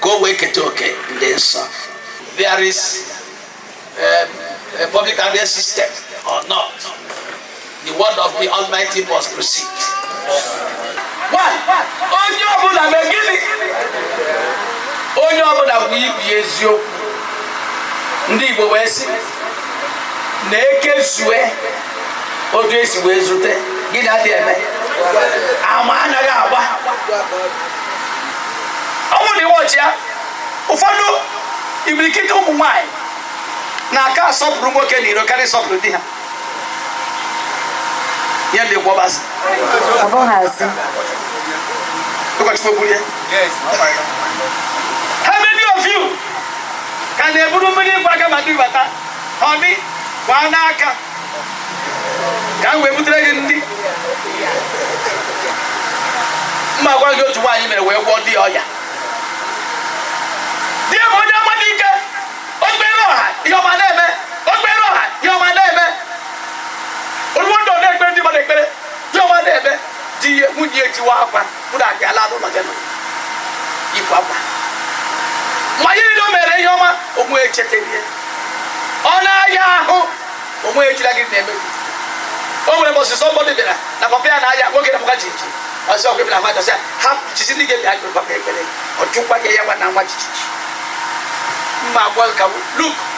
ka o wee keta oke ndị nsọ there is um, a public address system or not the word of the almighty must proceed One, onye ọbụla mee gịnị onye ọbụla bụ ibi eziokwu ndị igbo wee sị na ekezue otu esi wee zute gịnị adị eme ama anaghị agba ọnwụ na iwọchi ya ụfọdụ imirikiti ụmụ nwaanyị na-aka asọpụrụ nwoke na iro karịa ịsọpụrụ di ha ya dị ka ọ bụ asị ọ bụghị asị ụkọchukwu kwuru ya how many of you ka na-eburu mmiri ịgba aka ma di bata ọ bịa gbaa n'aka ka m wee butere gị ndị m ma-agwa gị otu nwaanyị mere wee gwọọ di ya ọya di ya bụ onye amụma dị ike okpere ọha ihe ọma na-eme okpere ọha ihe ọma na-eme oluwo ndị ọ na-ekpere ndị mmadụ ekpere Diọma na-eme di ihe nwunye ya etiwa akwa bụrụ abịa laa n'ụlọ ya nọ ịkwa akwa ma ya niile o mere ihe ọma onwe echeta ihe ọ na-aya ahụ onwe ejila gị na-eme gị. o nwere mbọsị somebody bịara na papa ya na-aya nwoke na-ama jiji ọ sị ọgụ bịara mmadụ sị ha jizi ndị ga-abịa gụrụ papa ekpere ọ chụkwa ya ya nwa na-ama jijiji mma agwa ka luk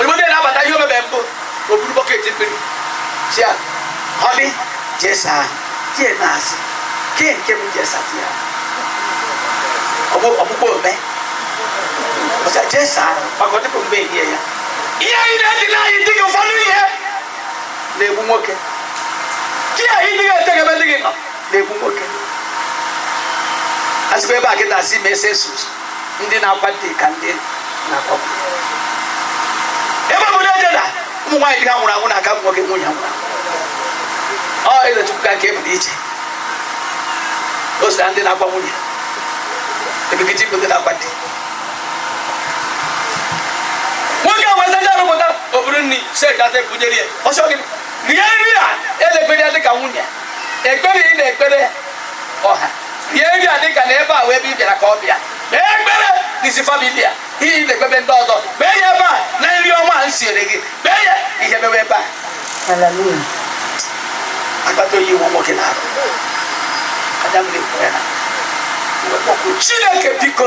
Oyibo na-abata ihe o mebe mbụ o buru bucket mmiri si ya ọ dị jesa tie na-asị ke nke bụ jesa ti ya ọgbụgbọ ome ọsa jesa maka ọ dịbụ mgbe ehie ya ihe anyị na-eji na anyị dịghị ụfọdụ ihe na-egbu nwoke di anyị dịghị eteghebe dịghị nọ na-egbu nwoke asịkwa ebe a kịta asị ma ese sus ndị na-akwa di ka ndị na-akwa ebe obodo eje na ụmụ nwaanyị di ha nwụrụ anwụ na-aka ụba nwoke nwunye nwụrụ ọ ụkọchukwu ka nke e dị iche o si na ndị na-akwa nwunye imirikiti bụ ndị na-akwa di nwoke a wee saachaa arụ pụta o buru nri sek ata ebunyere ya ọ sị gị rie nri a elegbere ya dị ka nwunye ekpere ị na-ekpere ọha bịa eri ya dịka na ebe a wụ ebe ị bịara ka ọ bịa kpee ekpere n'isi family a ihe ị na-ekpe be ndị ọzọ kpee ya ebe a na nri ọma a m siere gị kpee ya ihe mewe ebe a akpata oyi awụ nwoke n'arụ Adam na-ekwu ya na chineke biko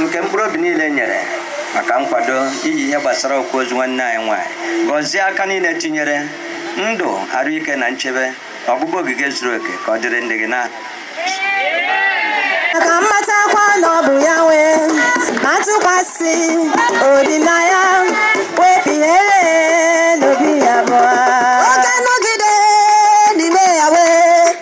nke mkpụrụ obi niile nyere maka nkwado iji ihe gbasara okwu ozu nwanne anyị nwanyị gọzie aka niile tinyere ndụ arụike na nchebe na ọgbụgba ogige zuru oke ka ọ dịrị ndị gị na ka m matakwa na ọ bụ ya nwe ma tụkwasị obi na ya wee kpughere n'obi ya bụ ọ ga-anọgide n'ime ya wee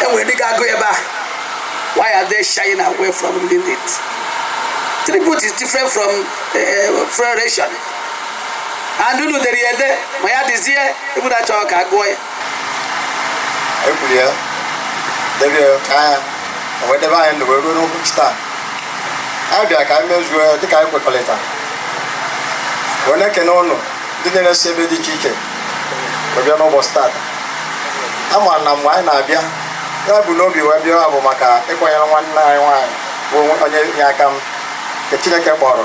e nwere ndị ga-agụ ebe a why are they shying away from reading it tribute is different from uh, eh, funeral oration eh, and unu dere ya ede ma ya dịzie ebe unu chọrọ ka a gụọ ya ekwuru ya dere ya ka anya o wee debe anyị ndụ wee ruo n'ụbọchị taa anyị bịara ka anyị mezuo ya dịka anyị kwekọrịta wee na-ekene ụnụ ndị niile si ebe dị iche iche wee bịa n'ụbọchị tata a ma na mgbe anyị na-abịa ihe e bu n'obi wee bịa bụ maka ịkwanyere nwanne anyị nwaanyị bụ onye inye aka m nke Chineke kpọrọ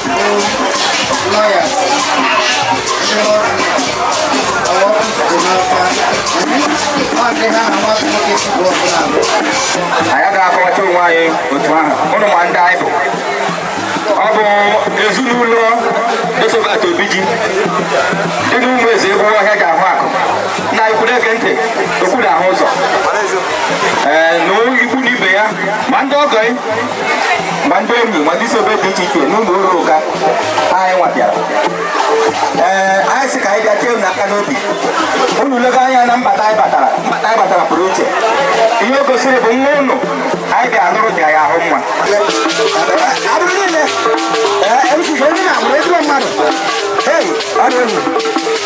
anyị ga-akọwacha onwe anyị otu ahụ ụnụ ma ndị anyị bụ ọ bụ ezinụlọ Josephat Obiji dị n'Ụmụeze egwu ọhịa ga-ahụ akụ na ikwu na-ege ntị okwu na-ahụ ụzọ ee na ikwu na ibe ya ma ndị ọgọ ma ndị enyi ma ndị si ebe dị iche iche n'ụlọ ụlọ ụka anyị nwa bịara ee anyị sị ka anyị bịa tie unu aka n'obi unu lega anya na mbata anyị batara mbata anyị batara pụrụ iche ihe o gosiri bụ nwa unu anyị bịa lụrụ bịa ya ahụ mma